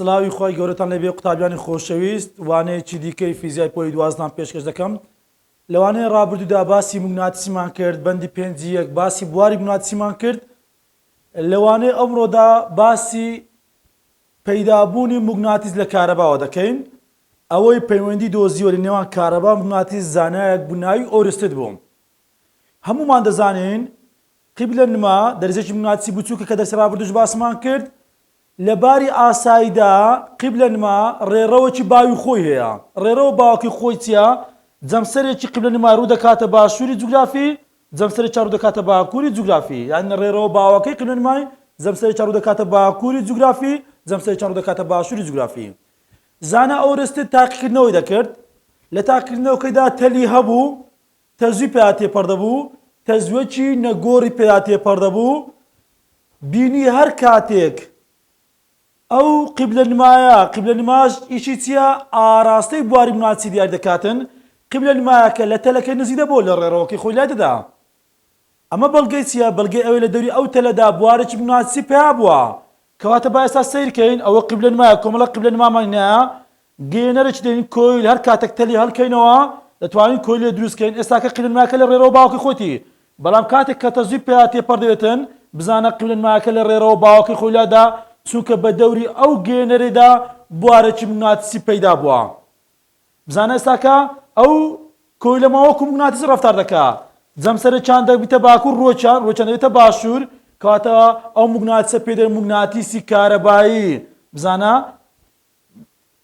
سڵاوی خی گەورەتان لەبێ قوتابیانی خۆشەویست وانەیەکی دیکەی فیزیای پۆی دوازدان پێشکەش دەکەم لەوانەیە ڕابردوودا باسی مگناتسیمان کرد بەندی پێنجی یەک باسی بواری بناتسیمان کرد لەوانەیە ئەمڕۆدا باسی پەیدابوونی موگناتیس لە کارەباوە دەکەین، ئەوەی پەیوەندی دۆزیوە لە نێوان کارەبا و موگناتیس زانایەک بوو ناوی ئۆرستد بوو. هەموومان دەزانین قیبلە نما دەرزیەکی موگناتیسی بچووکە کە دەرسی ڕابردووش باسمان کرد لە باری ئاسایدا قیبلەنما ڕێڕەوێکی باوی خۆی هەیە. ڕێڕەوە باوەکەی خۆی چییە؟ جەمسەرێکی قیبلەنما ڕوو دەکاتە باشووری جوگرافی، جەمسەرێکیان ڕوو دەکاتە باکووری جوگرافی. یانی ڕێڕەوە باوەکەی قیبلەنمای جەمسەرێکیان ڕوو دەکاتە باکووری جوگرافی، جەمسەرێکیان ڕوو دەکاتە باشووری جوگرافی. زانا ئۆرستد تاقیکردنەوەی دەکرد. لە تاقیکردنەوەکەیدا تەلی هەبوو تەزوی پیا تێپەڕدەبوو، تەزوێکی نەگۆڕی پیا تێپەڕدەبوو، بینی هەر کاتێک ئەو قیبلە نمایە، قیبلە نماش ئیشی چییە؟ ئاراستەی بواری ماچی دیاری دەکاتن، قیبلە نمایەکە لە تەلەکەی نزیک دەبۆ لە ڕێڕەوەکەی خۆی لای دەدا. ئەمە بەڵگەی چییە؟ بەڵگەی ئەوەی لە دەوری ئەو تەلەدا بوارێکی ماچی پیا بووە، کەواتە با ئێستا سەیر کەین ئەوە قیبلە نمایە کۆمەڵە قیبلە نمامان هەیە گەینەرە چ دەین کۆیل هەر کاتەک تەلی هەلکەینەوە دەتوانین کۆیل لێ دروست کەین ئێستا کە قیبلە نمایەکە لە ڕێرەوە باوکی خۆتی بەڵام کاتێک کە تەزوی پیا تێپەر دەبێتن بزانە قیبلە نمایەکە لە ڕێرەوە باوکی خۆی لادا چونکە بە دەوری ئەو گەینەرێدا بوارەکی مگناتسی پەیدا بوە بزانە ئێستا کە ئەو کۆیلە ماوە وەکو موگناتیس ڕەفتار دەکا جەمسەرەکیان دەبیتە باکوور ڕووەکیان ڕووەکیان دەبێتە باشوور کەواتە ئەو موگناتیسە پێ دەرێ موگناتیسی کارەبایی بزانە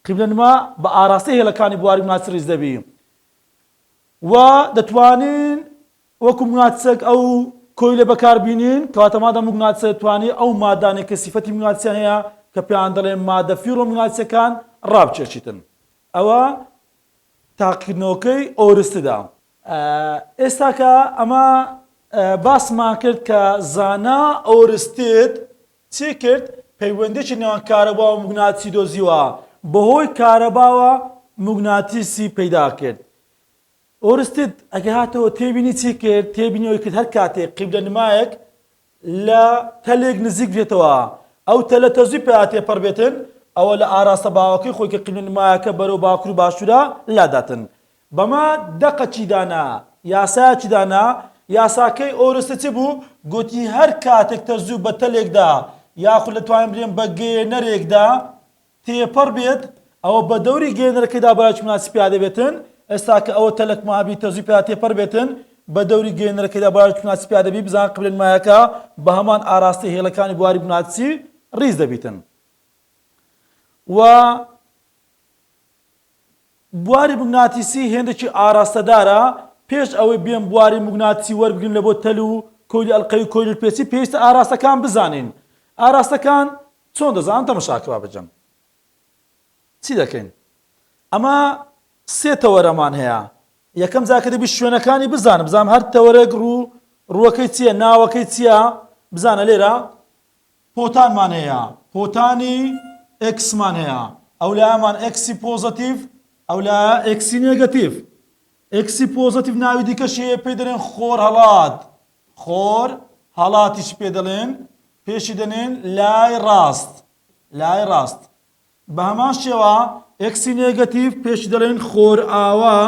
قیبلە نما بە ئاراستەی هێڵەکانی بواری موگناتیس ڕیز دەبی و دەتوانین وەکو مگناتسێک ئەو کۆیلە بەکار بینین، کەواتە مادام مگناتسە دەتوانێ ئەو مادانەی کە سیفەتی مگناتسیان هەیە کە پێیان دەڵێن مادە فیڕۆمگناتسیەکان ڕابچێچیتن ئەوە تاقیکردنەوەکەی ئۆرستدە. ئێستا کە ئەمە باسمان کرد کە زانا ئۆرستد چی کرد پەیوەندیەکی نێوان کارەبا و مگناتسی دۆزیوە بەهۆی کارەباوە مگناتیسی پەیدا کرد ئۆرستد ئەگە هاتەوە تێبینی چی کرد؟ تێبینی ئەوەی کرد هەر کاتێک قیبلەنمایەک لە تەلێک نزیک بێتەوە ئەو تەلە تەزووی پێا تێپەڕ بێتن ئەوە لە ئاراستە باوەکەی خۆی کە قیبلەنمایەکە بەرەو باکور و باشورە لاداتن بەمە دەقە چی دانا یاسایەکی دانا یاساکەی ئۆرستد چ بوو گۆتی هەر کاتێک تەزوو بە تەلێکدا یاخود لە توانین بلێن بە گەیێنەرێکدا تێپەڕ بێت ئەوە بە دەوری گەیەنەرەکەیدا بایەکی مەناسی پیا دەبێتن، ئێستا کە ئەوە تەلەک مەهابی تەرزوی پیا تێپەڕ بێتن بە دەوری گەیەنەرەکەیدا بایەکی مەناسی پیا دەبی بزان قبلەی مایەکە بە هەمان ئاراستەی هێڵەکانی بواری مەناسی ڕیز دەبیتن و بواری موگناتیسی هێندێکی ئاراستەدارە پێش ئەوەی بێن بواری موگناتیسی وەربگرن لە بۆ تەل و کۆیلی ئەلقەوی کۆیلی پێچی پێویستە ئاراستەکان بزانین ئاراستەکان چۆن دەزانم تەمەشاکرا بکەم چی دەکەین ئەمە سێ تەوەرەمان هەیە یەکەم جاکە دەبی شوێنەکانی بزانم بزانم هەر تەوەرەک ڕوو ڕووەکەی چییە ناوەکەی چییە بزانە لێرە پۆتانمان هەیە پۆتانی ئەکسمان هەیە ئەو لامان ئەکسی پۆزەتیف ئەو لا ئەکسی نێگەتیف ئەکسی پۆزەتیف ناوی دیکەشەیە پێی دەرێن خۆر هەڵات خۆر هەڵاتیش پێ دەڵێن، پێشی دەنێن لای ڕاست، لای ڕاست. بە هەمان شێوە ئێکسی نێگەتیڤ پێشی دەڵێن خۆرئاوا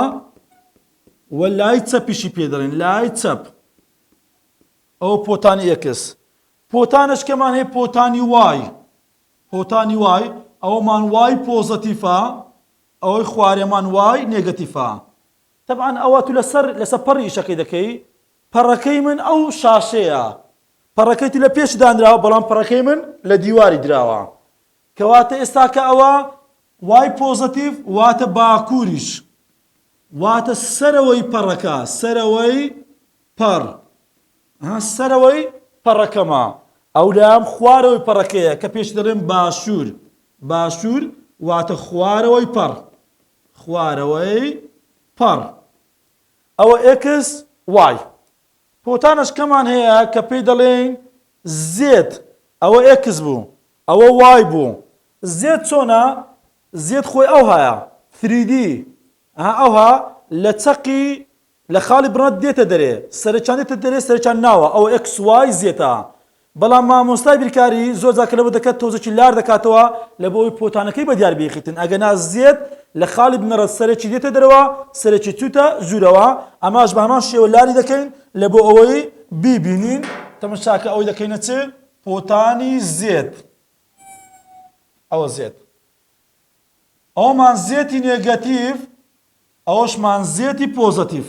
و لای چەپیشی پێ دەڵێن لای چەپ. ئەو پۆتانی ئێکس. پۆتانش کەمان هەیە پۆتانی وای. پۆتانی وای ئەومان وای پۆزەتیفە ئەوەی خوارێمان وای نێگەتیفە. طبعا ئەوە تو لەسەر لەسەر پەڕی ئیشەکەی دەکەی پەڕەکەی من ئەو شاشەیە. پەڕەکەی تو لە پێچ دانراوە بەڵام پەڕەکەی من لە دیواری دراوە. کەواتە ئێستا کە ئەوە وای پۆزەتیڤ واتە باکووریش واتە سەرەوەی پەڕەکە، سەرەوەی پەڕ ها سەرەوەی پەڕەکەمە. ئەو لام خوارەوەی پەڕەکەیە کە پێش دەڵێم باشوور. باشوور واتە خوارەوەی پەڕ. خوارەوەی پەڕ. ئەوە ئێکس وای. پۆتانەشکەمان هەیە کە پێی دەڵێین زێد. ئەوە ئێکس بوو. ئەوە وای بوو. زێد چۆنە؟ زێد خۆی ئەوهایە. ثریدی. ئەها ئەوها لە چەقی، لە خاڵی بڕە دێتە دەرێ. سەرەکیان دێتە دەرێ، سەرەکیان ناوە. ئەوە ئێکس وای زێتە. بەڵام مامۆستای بیرکاری زۆر جار کە لەوە دەکات تۆزێکی لار دەکاتەوە لە بۆ ئەوەی پۆتانەکەی بە دیار بێخیتن ئەگەنا زێد لە خاڵی بنەڕەت سەرێکی دێتە دەرەوە سەرێکی چوتە ژورەوە ئەماش بە هەمان شێوە لاری دەکەین لە بۆ ئەوەی بیبینین تەمەشاکە ئەوەی دەکەینە چ پۆتانی زێد ئەوە زێد ئەومان زێتی نێگەتیڤ ئەوەشمان زێتی پۆزەتیڤ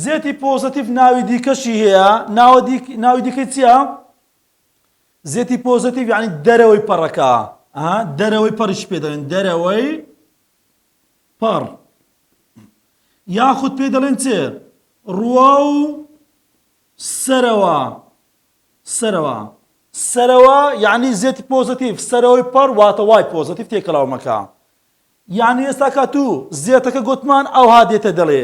زێتی پۆزەتیف ناوی دیکەشی هەیە ناوە دیک ناوی دیکەی چییە؟ زێتی پۆزەتیف یعنی دەرەوەی پەڕەکە دەرەوەی پەڕیش پێ دەڵێن دەرەوەی پەڕ یاخود پێ دەڵێن چێ ڕوە و سەرەوە سەرەوە سەرەوە یعنی زێتی پۆزەتیف سەرەوەی پەڕ واتە وای پۆزەتیف تێکەڵاومەکە یەعنی ئێستا کە توو زێتەکە گۆتمان ئەوها دێتە دەڵێ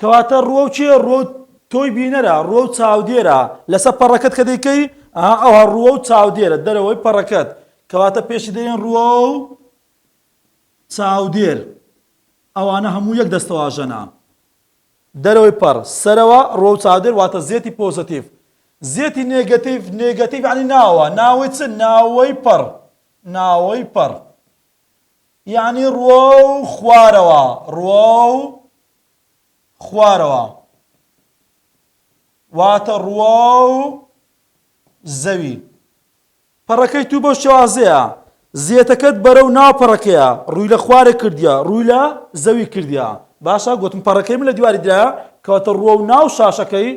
کەواتە ڕووەو کێ ڕووەو تۆی بینەرە ڕووەو چاودێرە لەسە پەڕەکەت کە دەیکەی ئەها ئەوها ڕووەو چاودێرە دەرەوەی پەڕەکەت کەواتە پێشی دەێن ڕووەو چاودێر ئەوانە هەموو یەک دەستەواژەنا دەرەوەی پەڕ سەرەوە ڕۆ و چاودێر واتە زێتی پۆزتیف زێتی نێگەتیف نێگەتیف عنی ناوە ناوەی چ ناوەی پەڕ ناوەی پەڕ یەعنی ڕووە و خوارەوە، ڕووە و خوارەوە. واتە ڕووە و زەوی. پەڕەکەی توو بەو شێوازەیە، زێتەکەت بەرەو ناو پەڕەکەیە، ڕووی لە خوارێ کردیە، ڕووی لە زەوی کردیە. باشە گۆتم پەڕەکەی من لە دیواری درایە، کەواتە ڕووە و ناو شاشەکەی،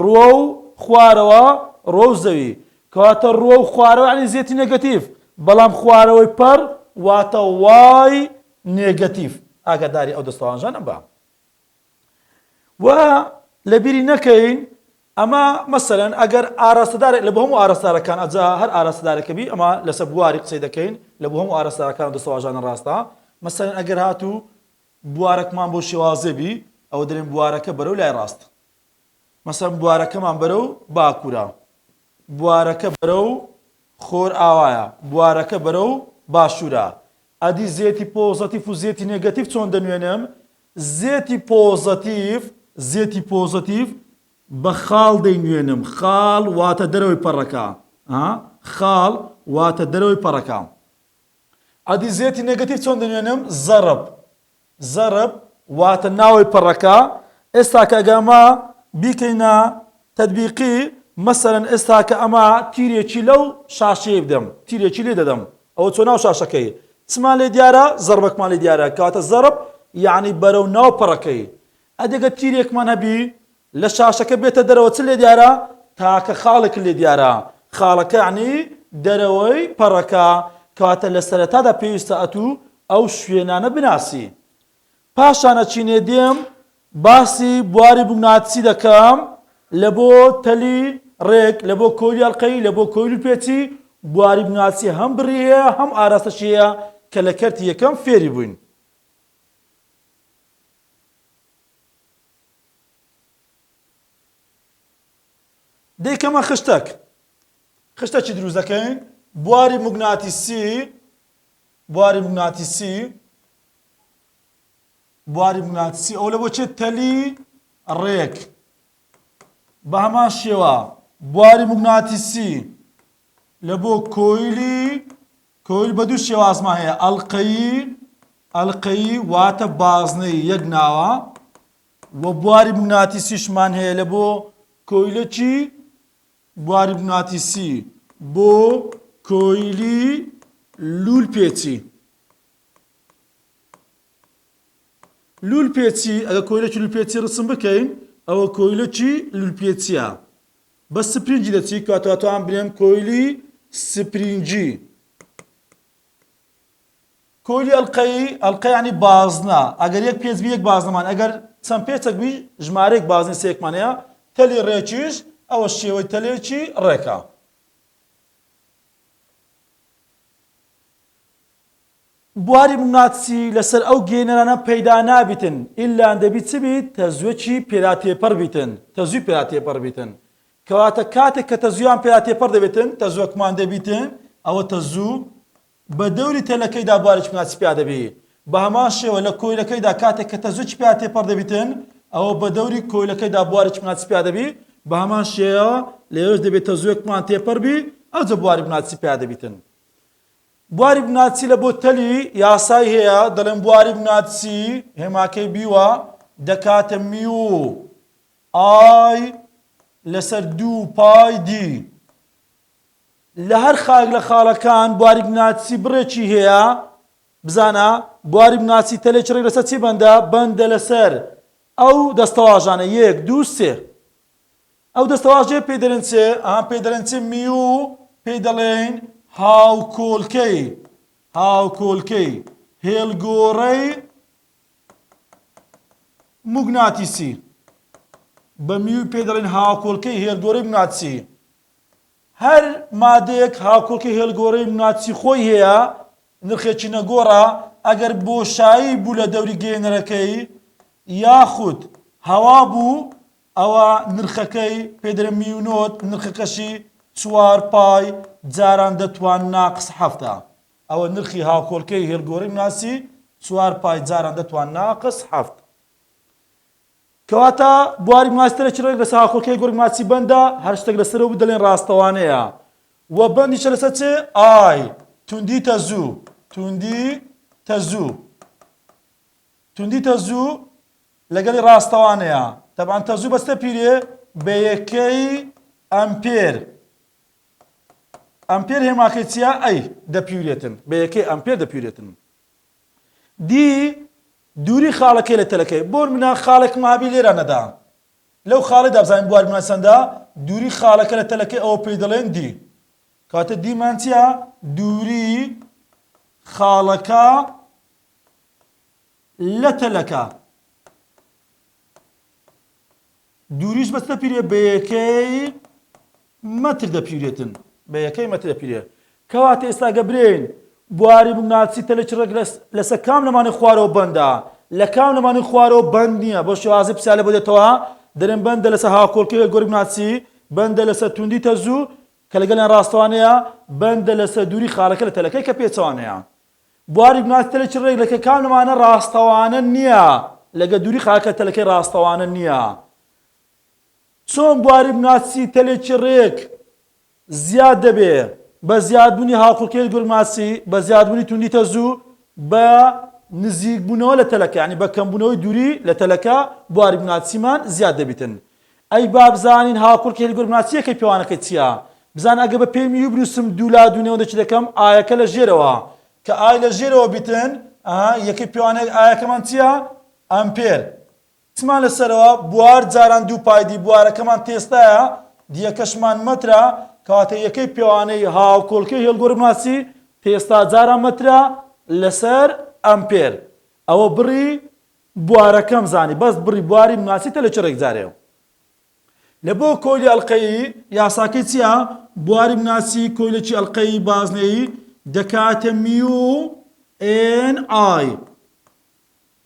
ڕووە و خوارەوە، ڕووە و زەوی. کەواتە ڕووە و خوارەوە یانی زێتی نێگەتیڤ، بەڵام خوارەوەی پەڕ واتە وای نێگەتیڤ. ئاگاداری ئەو دەستەوانژانە بە. و لە بیری نەکەین ئەمە مەسەلەن ئەگەر ئاراستەدارێک لە بۆ هەموو ئاراستارەکان ئەجا هەر ئاراستەدارێکە بی ئەمە لەسەر بواری قسەی دەکەین لە بۆ هەموو ئاراستارەکان و دەستەواژانە ڕاستە مەسەلەن ئەگەر هاتوو بوارەکمان بۆ شێوازێ بی ئەوە دەرێن بوارەکە بەرەو لای ڕاست مەسەڵەن بوارەکەمان بەرەو باکوورە، بوارەکە بەرەو خۆرئاوایە، بوارەکە بەرەو باشوورە. ئەدی زێتی پۆزەتیف و زێتی نێگەتیف چۆن دەنوێنم؟ زێتی پۆزەتیف، زێتی پۆزەتیف بە خاڵ دەینوێنم، خاڵ واتە دەرەوەی پەڕەکە، ها، خاڵ واتە دەرەوەی پەڕەکە. ئەدی زێتی نێگەتیف چۆن دەنوێنم؟ زەڕب. زەرب، واتە ناوەی پەڕەکە، ئێستا کە گەر ئەمە بیکەینە تەتبیقی، مەسەلەن ئێستا کە ئەمە تیرێکی لەو شاشەیەی بدەم، تیرێکی لێ دەدەم، ئەوە چۆ ناو شاشەکەی چمان لێ دیارە، زەربەکمان لێ دیارە، کەواتە زەرب یەعنی بەرەو ناو پەڕەکەی، ئەدی گەر تیرێکمان هەبی لە شاشەکە بێتە دەرەوە چ لێ دیارە؟ تاکە خاڵێک لێ دیارە، خاڵەکە یانی دەرەوەی پەڕەکە، کەواتە لە سەرەتادا پێویستە ئەتوو ئەو شوێنانە بناسی. پاشان ئەچینێ دێم باسی بواری موگناتیسی دەکەم لە بۆ تەلی ڕێک، لە بۆ کۆیلی ئەڵقەیی، لە بۆ کۆیلی پێچی، بواری موگناتیسی هەم بڕی هەیە هەم ئاراستەشی هەیە کە لە کەرتی یەکەم فێری بووین. دەیکەمە خشتەک، خشتەکی دروست دەکەین، بواری موگناتیسی، بواری موگناتیسی، بواری موگناتیسی ئەو لە بۆ چێت تەلی ڕێک بە هەمان شێوە بواری موگناتیسی لە بۆ کۆیلی کۆیل بە دوو شێوازمان هەیە، ئەڵقەیی، ئەڵقەیی واتە بازنەی یەک ناوە، و بواری بناتیسیشمان هەیە لە بۆ کۆیلەکی بواری بناتیسی بۆ کۆیلی لول پێچی لول پێچی ئەگە کۆیلەکی لول پێچی ڕسم بکەین ئەوە کۆیلەکی لول پێچیە بە سپرینجی دەچی کاتاتان بنێم کۆیلی سپرینجی کۆیلی ئەلقەی ئەلقە ینی بازنە ئەگەر یەک پێچ یەک بازنەمان ئەگەر چەند پێچەک بی ژمارەێک بازنی سێکمانەیە تەلی ڕێکیش ئەوە شێوەی تەلێکی ڕێکە بواری مناتسی لەسەر ئەو گێنەرانە پەیدا نابیتن ئیللا دەبی چ بیت تەزوەکی پێرا تێپەر بیتن تەزوی پێرا تێپەر بیتن کەواتە کاتێک کە تەزویان پێرا تێپەر دەبیتن تەزوەکمان دەبیتن ئەوە تەزو بە دەوری تەلەکەیدا بوارێکی مناتسی پیا دەبی بە هەمان شێوە لە کۆیلەکەیدا کاتێک کە تەزوەکی پێرا تێپەر دەبیتن ئەوە بە دەوری کۆیلەکەیدا بوارێکی مناتسی پیا دەبی بە هەمان شێوە لەوێش دەبێت تەزوەکمان تێپەر بی ئەوجە بواری مناتسی پیا دەبیتن بواری بناچی لە بۆ تەلی یاسای هەیە دەڵێن بواری بناچی هێماکەی بیوە دەکاتە میو ئای لەسەر دوو پای دی لە هەر خاک لە خاڵەکان بواری بناچی بڕێکی هەیە بزانە بواری بناچی تەلێکی ڕێک لەسەر چی بەندە بەندە لەسەر ئەو دەستەواژانە یەک دوو سێ ئەو دەستەواژەیە پێی دەلێن چێ؟ ئەها پێی دەلێن چێ میو پێی دەڵێین هاوکۆلکەی هاوکۆلکەی هێلگۆڕەی موگناتیسی بە میو پێ دەڵێن هاوکۆلکەی هێلگۆرەی مناتسی هەر مادەیەک هاوکۆلکە هێلگۆرەی مناتسی خۆی هەیە نرخێکی نەگۆڕە ئەگەر بۆشایی بوو لە دەوری گەێنەرەکەی یاخود هەوا بوو ئەوا نرخەکەی پێدەرە میونۆت نرخەکەشی چوار پای جاران دەتوان ناقس حەفتە ئەوە نرخی هاوکۆلکەی هێلگۆری ناسی چوار پای جاران دەتوان ناقس حەفت کەواتە بواری ماستەرێکی ڕێک لەسەر هاوکۆلکەی گۆرگ ماچی بەندە هەر شتێک لەسەرەوە بدەلێن ڕاستەوانەیە و بەندیشە لەسەر چێ ئای توندی تەزوو توندی تەزوو توندی تەزوو لەگەڵی ڕاستەوانەیە تەبان تەزوو بەستە پیرێ بە یەکەی ئەمپێر ئەمپێر هێماکەی چیا ئەی دەپیورێتن بە یەکەی ئەمپێر دەپیورێتن دی دووری خاڵەکەی لە تەلەکەی بۆر منە خاڵێک مابی لێرە نەدا لەو خاڵی دابزانین بوار منە چەندە دووری خاڵەکە لە تەلەکەی ئەوە پێی دەڵێن دی کاتە دیمان چیا دووری خاڵەکە لە تەلەکە دووریش بە چ دەپیرێ بە یەکەی مەتر دەپیرێتن بە یەکەی مەتر دەپیرێ کەواتە ئێستا گە برێن بواری بناچی تەلەکی ڕێک لەسەر کام لەمانی خوارەوە بەندە لە کام لەمانی خوارەوە بەند نییە بۆ شێوازی پسیالە بۆ دێتەوە دەرم بەندە لەسەر هاوکۆلکەوێت گۆری بناچی بەندە لەسەر توندی تەزوو کە لەگەڵیان ڕاستەوانەیە بەندە لەسەر دووری خارەکە لە تەلەکەی کە پێچوانەیە بواری ماستەرێکی ڕێک لە کەکانمانە ڕاستەوانە نییە لەگە دووری خاکە تەلەکەی ڕاستەوانە نییە چۆن بواری بناسی تەلێکی ڕێک زیاد دەبێ بە زیادبوونی هاوکوڵکەی گورماسی بە زیادبوونی توندی تەزوو بە نزیکبوونەوە لە تەلەکە ینی بە کەمبوونەوەی دووری لە تەلەکە بواری بناسیمان زیاد دەبیتن ئەی بابزانین هاوکوڕکی هێلگۆر بناسییەکەی پێوانەکەی چییە؟ بزانە ئەگەر بە پێی میوی بنووسم دوو لا دوو نێوەندە چی دەکەم؟ ئایەکە لە ژێرەوە. کە ئای لە ژێرەوە بیتن، ئەها یەکەی پێوانەیەک ئایەکەمان چییە؟ ئەمپێر. چمان لە سەرەوە؟ بوار جاران دوو پای دی بوارەکەمان تێستایە، دییەکەشمان مەترە، کەواتە یەکەی پێوانەی هاوکوڵکەی هێلگۆر بناسی تێستا جاران مەترە لەسەر ئەمپێر. ئەوە بڕی بوارەکەم زانی بەس بڕی بواری مناسی تە لە چڕێک جارێ و لە بۆ کۆیلی ئەڵقەیی. یاساکەی چیە بواری مناسی کۆیلەکی ئەڵقەیی بازنەیی دەکاتە میو ئێن ئای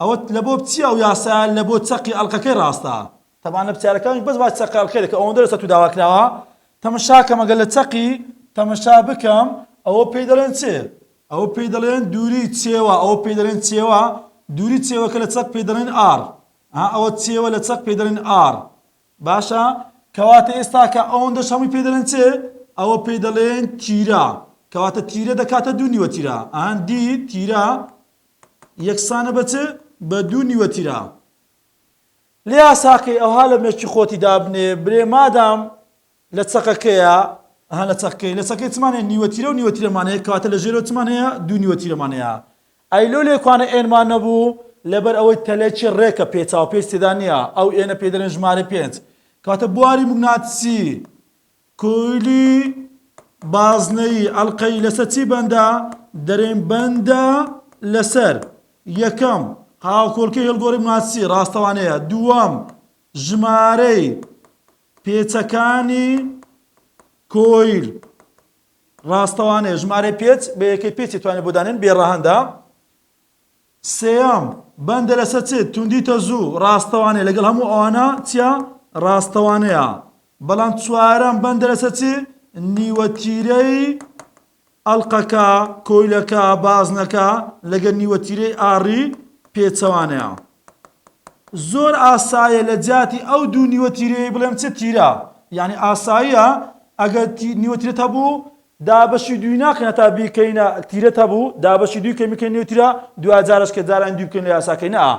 ئەوە لە بۆ چیە ئەو یاسایە لە بۆ چەقی ئەڵقەکەی ڕاستە تەبان لە پرسیارەکانیش بەس باسی چەقە ئەکرێت کە ئەوەندە لەسەر تو داوا کراوە تەمەشا کەم ئەگەر لە چەقی تەمەشا بکەم ئەوە پێی دەڵێن چێ ئەوە پێی دەڵێن دووری چێوە ئەوە پێی دەڵێن چێوە دووری چێوەکە لە چەق پێی دەڵێن ئار ئەوە چێوە لە چەق پێی دەڵێن ئار باشە کەواتە ئێستا کە ئەوەندە شەمی پێ دەڵێن چێ ئەوە پێی دەڵێن تیرا کەواتە تیرە دەکاتە دوو نیوە تیرا ئەهان دی تیرا یەکسانە بە چ بە دوو نیوە تیرا لیا ساقی ئەوها لە مێشکی خۆتی دابنێ برێ مادام لە چەقەکەیە ها لە چەقەکەی لە چەقەکەی چمان هەیە نیوە تیرە و نیوە تیرەمان هەیە کەواتە لە ژێرەوە چمان هەیە دوو نیوە تیرەمان هەیە ئەی لۆ لێکوانە ئێنمان نەبوو لەبەر ئەوەی تەلێکی ڕێکە پێچاو پێچ تێدا نییە ئەو ئێنە پێ دەرێن ژمارە پێنج کەواتە بواری موگناتیسی کولی بازنەیی ئەڵقەی لەسەر چی بەندە؟ دەرێین بەندە لەسەر یەکەم هاوکۆلکەی هێڵگۆڕی موناسی ڕاستەوانەیە دووەم ژمارەی پێچەکانی کۆیل ڕاستەوانەیە ژمارەی پێچ بە یەکەی پێچی توانێت بۆ دانێن بێ ڕەهەندە سێیەم، بەندە لەسەر چ؟ توندی تەزوو، ڕاستەوانەیە، لەگەڵ هەموو ئەوانە چییە؟ ڕاستەوانەیە. بەڵام چوارەم، بەندە لەسەر چ؟ نیوە تیرەی ئەڵقەکە، کۆیلەکە، بازنەکە، لەگەڵ نیوە تیرەی ئاڕی پێچەوانەیە. زۆر ئاسایە لە جیاتی ئەو دوو نیوە تیرەیەی بڵێم چ تیرە؟ یانی ئاساییە ئەگەر نیوە تیرەت هەبوو دابەشی دووی ناکەین هەتا بیکەینە تیرت هەبوو دابەشی دووی کەین بکەین نێوترا دواجارش کە جاران دووی بکەین لە یاساکەی نەئا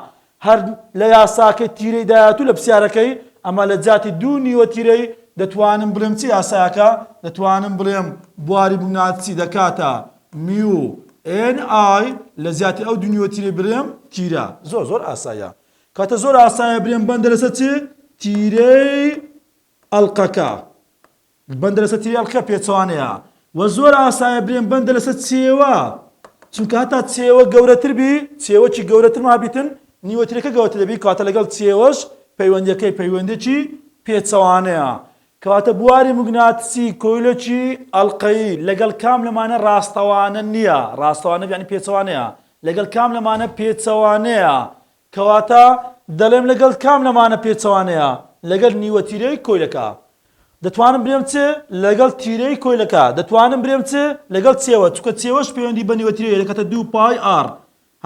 هەر لە یاساکەی تیرەی دایەتوو لە پسیارەکەی ئەمە لە جیاتی دوو نیوە تیرەی دەتوانم بلێم چ یاسایەکە دەتوانم بلێم بواری بونات چی دەکاتە میو ئێن ئای لە جیاتی ئەو دوو نیوە تیرەی بلێم تیرە زۆر زۆر ئاسایە کاتە زۆر ئاسایە بلێم بەندە لەسە چی تیرەی ئەڵقەکە. بەندە لەسەر تێوی ئەڵقە پێچەوانەیە و زۆر ئاسایە برێن بەندە لەسەر چێوە چونکە هەتا چێوە گەورەتر بی چێوەکی گەورەتر مابیتن نیوەترەکە گەورەتر دەبی کاتە لەگەڵ چێوەش پەیوەندەکەی پەیوەندێکی پێچەوانەیە کەواتە بواری مگناتسی کۆیلەکی ئەلقەیی لەگەڵ کام لەمانە ڕاستەوانە نییە ڕاستەوانە بیانی پێچەوانەیە لەگەڵ کام لەمانە پێچەوانەیە کەواتە دەڵێم لەگەڵ کام لەمانە پێچەوانەیە؟ لەگەڵ نیوە تیرەی کۆیلەکە. دەتوانم برێم چ؟ لەگەڵ تیرەی کۆیلەکە. دەتوانم برێم چ؟ لەگەڵ چێوە، چونکە چێوەش پەیوەندی بە نیوە تیرەی دەکاتە دوو پای ئاڕ.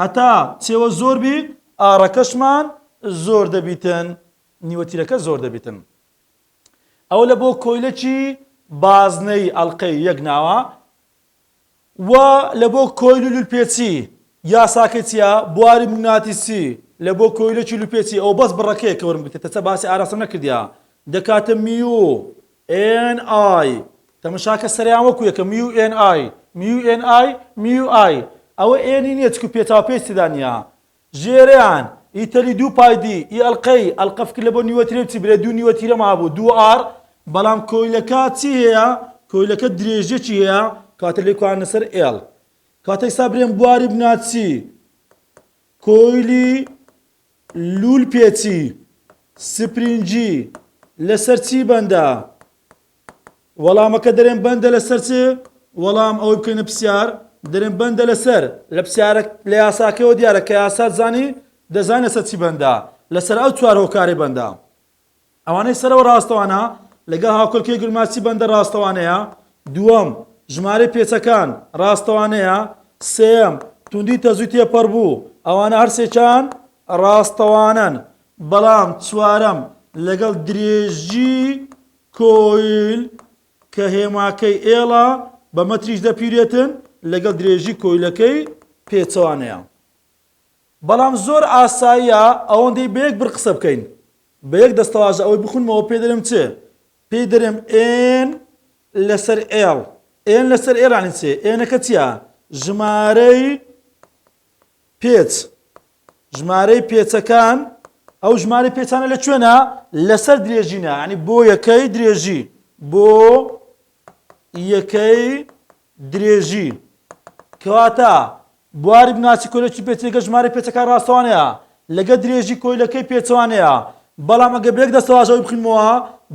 هەتا چێوە زۆر بیت، ئاڕەکەشمان زۆر دەبیتن، نیوە تیرەکە زۆر دەبیتن. ئەوە لە بۆ کۆیلەکی بازنەیی ئەڵقەی یەک ناوە. و لە بۆ کۆیل و لولپێچی یاساکەی چیە بواری مگناتیسی لە بۆ کۆیلەکی لولپێچی ئەو بەس بڕەکەیە کە وەرم گرتە چە باسی ئاراستەم نەکردیا دەکاتە میو ئێن ئای تەمەشاکە سەریان وەکو یەکە میو ئێن ئای میو ئێن ئای میو ئای ئەوە ئێنی نیە چکو پێچاو پێچ تێدا نیە ژێرێان، ئیتەلی دوو پای دی، ی ئەڵقەی، ئەڵقە فکر لە بۆ نیوە ترێ بچی برێ دوو نیوە تیرەم هەبوو دوو ئاڕ، بەڵام کۆیلەکە چی هەیە؟ کۆیلەکە درێژیەکی هەیە کەواتە لێی کواندنە سەر ئێڵ. کەواتە ئیستا برێم بواری بنا چی؟ کۆیلی لوول پێچی سپرینجی لەسەر چی بەندە؟ وەڵامەکە دەرێن بەندە لەسەر چ؟ وەڵام ئەوەی بکەینە پسیار دەرێن بەندە لەسەر لە پسیارە لە یاساکەەوە دیارە کە یاسات زانی دەزان لەسەر چی بەندە لەسەر ئەو چوار هۆکاری بەندە ئەوانەی سەرەوە ڕاستەوانە لەگەڵ هاوکەلکی گرماسی بەندە ڕاستەوانەیە دووەم ژمارەی پێچەکان ڕاستەوانەیە سێم توندی تەزوی تێپەڕ بوو ئەوانە هەرسێکان ڕاستەوانن بەڵام چوارەم لەگەڵ درێژی کۆیل، کە هێماکەی ئێڵە بە مەتریش دەپیرێتن لەگەڵ درێژی کۆیلەکەی پێچەوانەیە. بەڵام زۆر ئاساییە ئەوەندەی بە یەک بڕ قسە بکەین بە یەک دەستەواژە ئەوەی بخونمەوە پێی دەرێم چ؟ پێی دەرێم ئێن لەسەر ئێڵ. ئێن لەسەر ئێڵ یانی چ؟ ئێنەکە چیە؟ ژمارەی پێچ. ژمارەی پێچەکان، ئەو ژمارەی پێچانە لە کوێنا؟ لەسەر درێژی نا، یانی بۆ یەکەی درێژی، بۆ یەکەی درێژی، کەواتە بواری بناسی کۆیلەکی پێچی لەگەڵ ژمارەی پێچەکان ڕاستەوانەیە لەگەڵ درێژی کۆیلەکەی پێچەوانەیە، بەڵام ئەگەر بە یەک دەستەواژەوەی بخینمەوە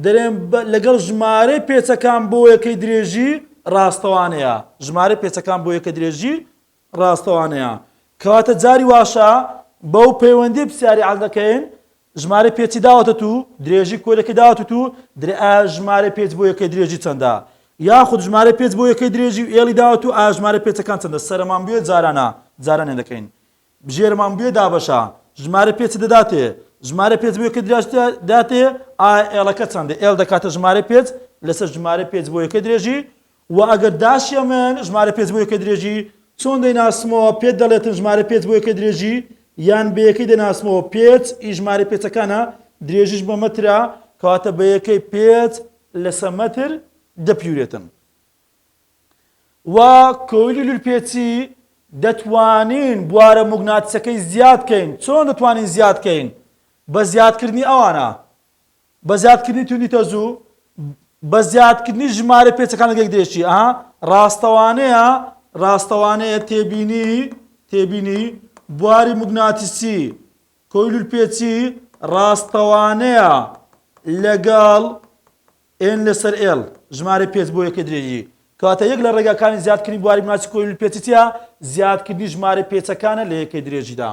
دەرێن لەگەڵ ژمارەی پێچەکان بۆ یەکەی درێژی ڕاستەوانەیە، ژمارەی پێچەکان بۆ یەکەی درێژی ڕاستەوانەیە کەواتە جاری واشە بەو پەیوەندی پسیاری عەل دەکەین ژمارە پێچی داوەتەت و درێژی کۆیلەکە داوەتت و درێ ئا ژمارە پێچ بۆ یەکەی درێژی چەندە یاخود ژمارە پێچ بۆ یەکەی درێژی و ئێڵی داوەت و ئا ژمارە پێچەکان چەندە سەرمان بوێ جارانە جارانێ دەکەین ژێرمان بوێ دابەشە ژمارە پێچ دەداتێ ژمارە پێچ بۆ یەکەی درێژتە داتێ ئا ئێڵەکە چەندە ئێڵ دەکاتە ژمارە پێچ لەسەر ژمارە پێچ بۆ یەکەی درێژی وە ئەگەر داشێ من ژمارە پێنج بۆ یەکەی درێژی چۆن دەیناسمەوە پێت دەڵێتن ژمارە پێنج بۆ یەکەی درێژی یان بە یەکەی دەناسمەوە پێت ی ژمارە پێچەکانە درێژیش بە مەترە کەواتە بە یەکەی پێت لەسە مەتر دەپیورێتن وە کۆیلی لولپێچی دەتوانین بوارە موگناتسەکەی زیاد کەین چۆن دەتوانین زیاد کەین بە زیادکردنی ئەوانە بە زیادکردنی توندی تەزوو بە زیادکردنی ژمارەی پێچەکان لەگەک دەیەکی ئەها ڕاستەوانەیە ڕاستەوانەیە تێبینی تێبینی بواری موگناتیسی کۆیلول پێچی ڕاستەوانەیە لەگەڵ ئێن لەسەر ئێڵ ژمارە پێچ بۆ یەکە درێژی کاتە یەک لە ڕێگاکانی زیادکردنی بواری مناسی کۆیل پێچیتە زیادکردنی ژمارە پێچەکانە لە یەکەی درێژیدا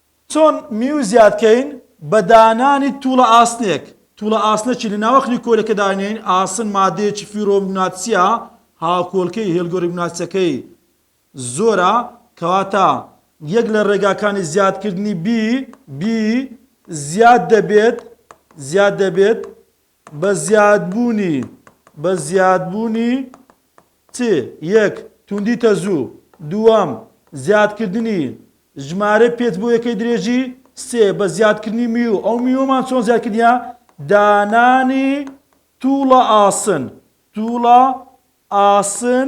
چۆن میو زیاد کەین؟ بە دانانی توڵە ئاسنێک، توڵە ئاسنەکی لە ناوەخنی کۆلەکە داینێین، ئاسن مادەیەکی فیرۆمگناتسیە، هاوکۆلکەی هێلگۆریگناتسەکەی زۆرە، کەواتە یەک لە ڕێگاکانی زیادکردنی بی، بی، زیاد دەبێت، زیاد دەبێت، بە زیادبوونی بە زیادبوونی ت یەک توندی تەزوو دووەم زیادکردنی ژمارەی پێچ بۆ یەکەی درێژی سێ بە زیادکردنی میو ئەو میوەمان چۆن زیادکردنیە دانانی تووڵە ئاسن تووڵە ئاسن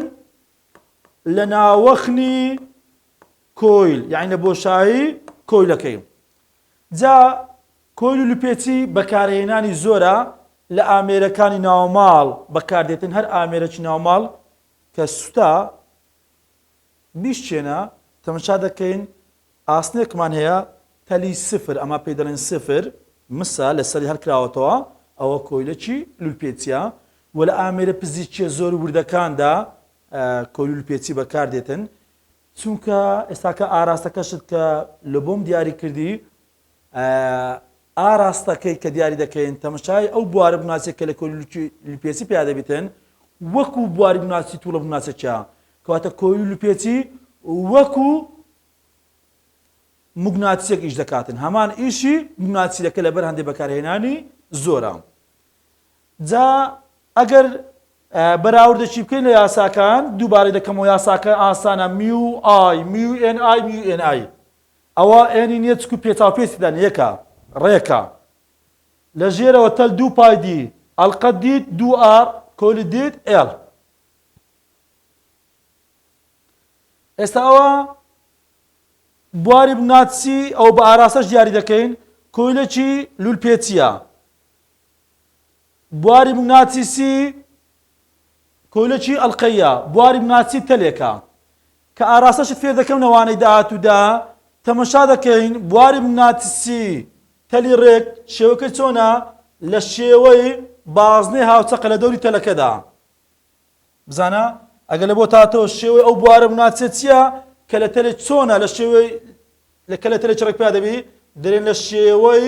لە ناوەخنی کۆیل یعنی لە بۆشایی کۆیلەکەی جا کۆیل و لوپێچی بەکارهێنانی زۆرە لە ئامێرەکانی ناوماڵ بەکاردێتن هەر ئامێرەکی ناوماڵ کە سوتا بیشکێنە تەمەشا دەکەین ئاسنێکمان هەیە تەلی سفر ئەمە پێی دەڵێن سفر مسە لەسەری هەرکراوەتەوە ئەوە کۆیلەکی لولپێچە و لە ئامێرە پزیشکیە زۆر وردەکاندا کۆلولپێچی بەکاردێتن چونکە ئێستاکە ئاراستەکەشت کە لە بۆم دیاری کردی ئاراستەکەی کە دیاری دەکەین تەمەشای ئەو بوارە بناسێت کە لە کۆلکی لپێسی پیا دەبێتن وەکو بواری بناسی توڵە بناسەکە کەواتە کۆیل لپێچی وەکو مگناتسێک ئیش دەکاتن هەمان ئیشی مگناتسیەکە لەبەر هەندێک بەکارهێنانی زۆرە جا ئەگەر بەراوردەکی بکەین لە یاساکان دووبارەی دەکەمەوە یاساکە ئاسانە میو ئای میو ئێن ئای میو ئێن ئای ئەوە ئێنی نیە چکو پێتاپێتیدان یەکە ڕێکە لە ژێرەوە تەل دوو پای دی ئەلقەت دیت دوو ئار کۆلی دیت ئێڵ ئێستا ئەوە بواری بناتسی ئەو بە ئاراستەش دیاری دەکەین کۆیلەکی لولپێچیە بواری مگناتیسی کۆیلەکی ئەڵقەییە، بواری مگناتیسی تەلێکە کە ئاراستەشت فێر دەکەم لە وانەی داهاتوودا، تەمەشا دەکەین بواری مگناتیسی تەلی ڕێک شێوەکەی چۆنە لە شێوەی بازنەی هاوچەقە لە دەوری تەلەکەدا. بزانە ئەگەر لە بۆت هاتەوە شێوەی ئەو بوارە مگناتیسە چییە کە لە تەلێک چۆنە لە شێوەی لە کە لە تەلێکی ڕێک پیا دەبی دەرێن لە شێوەی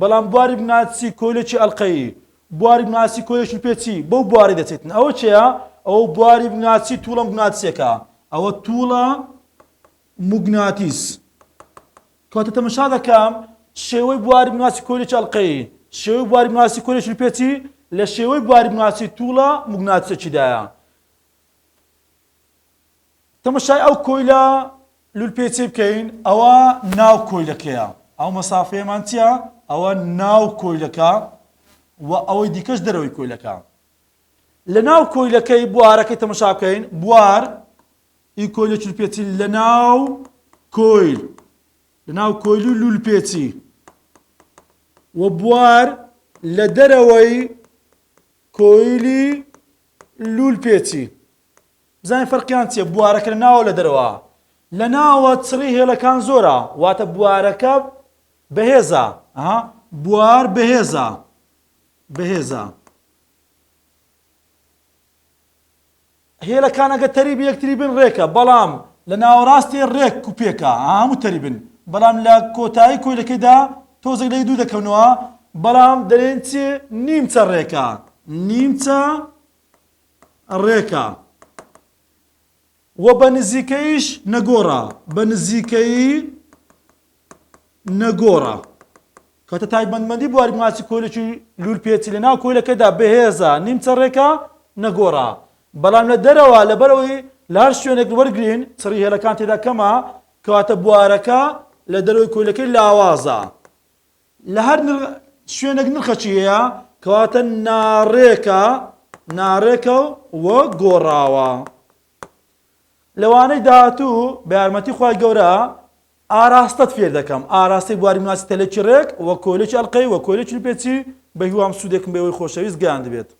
بەڵام بواری بناسی کۆیلەکی ئەڵقەیی، بواری بناسی کۆیلەکی پێچی بەو بوارەی دەچێتن، ئەوە چێە؟ ئەوە بواری بناسی تووڵە موگناتیسەکە، ئەوە تووڵە موگناتیس. کەواتە تەمەشا دەکەم شێوەی بواری بناسی کۆیلەکی ئەڵقەیی، شێوەی بواری بناسی کۆیلەکی پێچی لە شێوەی بواری بناسی تووڵە موگناتیسەکیدایە. تەمەشای ئەو کۆیلە لولپێچەی بکەین ئەوە ناو کۆیلەکەیە ئەو مەسافەیەمان چیە ئەوە ناو کۆیلەکە و ئەوەی دیکەش دەرەوەی کۆیلەکە لە ناو کۆیلەکەی بوارەکەی تەمەشا بکەین بوار ئی کۆیلە چولپێچی لە ناو کۆیل لە ناو کۆیل و لولپێچی و بوار لە دەرەوەی کۆیلی لولپێچی بزانین فەرقیان چیە بوارەکە لە ناوە لە دەرەوە لە ناوە چڕی هێڵەکان زۆرە واتە بوارەکە بەهێزە ئەها بوار بەهێزە بەهێزە هێلەکانەکە تەریب یەکتری بن ڕێکە بەڵام لە ناوەڕاستی ڕێک کوپێکە هەموو تەریبن بەڵام لە کۆتایی کۆیلەکەیدا تۆزێک لەی دوو دەکەونەوە بەڵام دەرێن چێ نیمچە ڕێکە نیمچە ڕێکە و بە نزیکەییش نەگۆڕە، بە نزیکەیی نەگۆڕە. کەواتە تایبەتمەندی بواری ماسی کۆیلەکی لوولپێچی لەناو کۆیلەکەدا بەهێزە، نیمچە ڕێکە، نەگۆڕە. بەڵام لە دەرەوە لەبەر ئەوەی لە هەر شوێنێک وەرگرین چڕی هێلەکان تێدا کەمە، کەواتە بوارەکە لە دەرەوەی کۆیلەکەی لاوازە. لە هەر شوێنێک نرخەکی هەیە کەواتە ناڕێکە ناڕێکە و گۆڕاوە لەوانەی داهاتوو بە یارمەتی خی گەورە ئاراستەت فێر دەکەم ئاراستەی بواری مناسی تەلێکی ڕێک وە کۆلێکی ئەلقەی وە کۆلێکی پێچی بە هیوام سوودێکم بەوەی خۆشەویست گەیان دەبێت